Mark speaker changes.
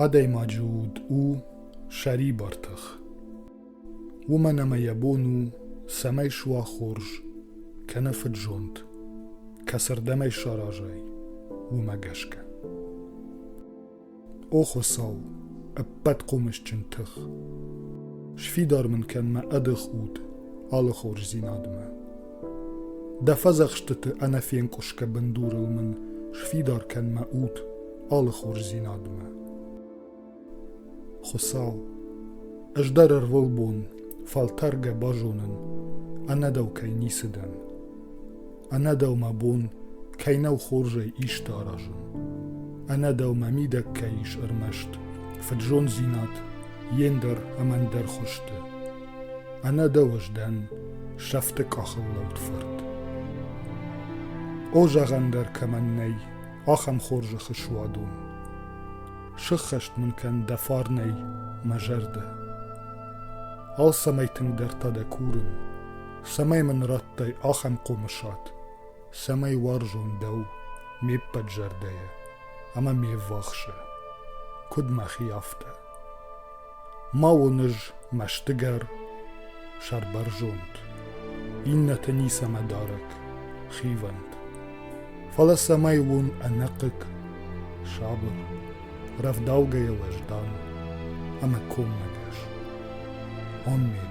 Speaker 1: Адӕймаджы уд у сӕрибар тых. Уымӕн ӕмӕ йӕ бон у, цӕмӕй суа хорз, кӕнӕ фыдзонд, кӕцырдӕмӕй саразай, уымӕ гӕсгӕ. О Хуыцау, ӕппӕт хъомысджын тых! Сфидар мын кӕн мӕ ӕдых уд алы хорздзинадмӕ. Дӕ фӕдзӕхстыты ӕнӕфенкъуысгӕ бындурыл мын сфидар кӕн мӕ уд алы хорздзинадмӕ. Хуыцау, ӕз дӕр ӕрвылбон фӕлтӕргӕ базонын, ӕнӕ дӕу кӕй ницы дӕн. Ӕнӕ дӕумӕ бон кӕй нӕу хорзӕй исты аразын, ӕнӕ дӕумӕ мидӕг кӕй ис ӕрмӕст фыдзонддзинад йе ндӕр ӕмӕ ӕндӕр хуызты, ӕнӕ дӕу ӕз дӕн сӕфты къахыл лӕуд фырт. О, зӕгъӕн дӕр кӕмӕн нӕй, ахӕм хорзӕхы суадон. Сыххӕст мын кӕн дӕ фарнӕй мӕ зӕрдӕ. Алцӕмӕй тынгдӕр та дӕ курын, цӕмӕй мын радтай ахӕм хъомысад, цӕмӕй уарзон дӕу ме ппӕт зӕрдӕйӕ ӕмӕ ме ввахсы, куыд мӕхи, афтӕ. Ма уон ӕз мӕстыгӕр, сӕрбӕрзонд, иннӕты ницӕмӕ дарӕг, хивӕнд. Фӕлӕ цӕмӕй уон ӕнӕхъыг, сабыр, рӕвдаугӕйӕ уӕздан ӕмӕ коммӕгӕс. Аммен.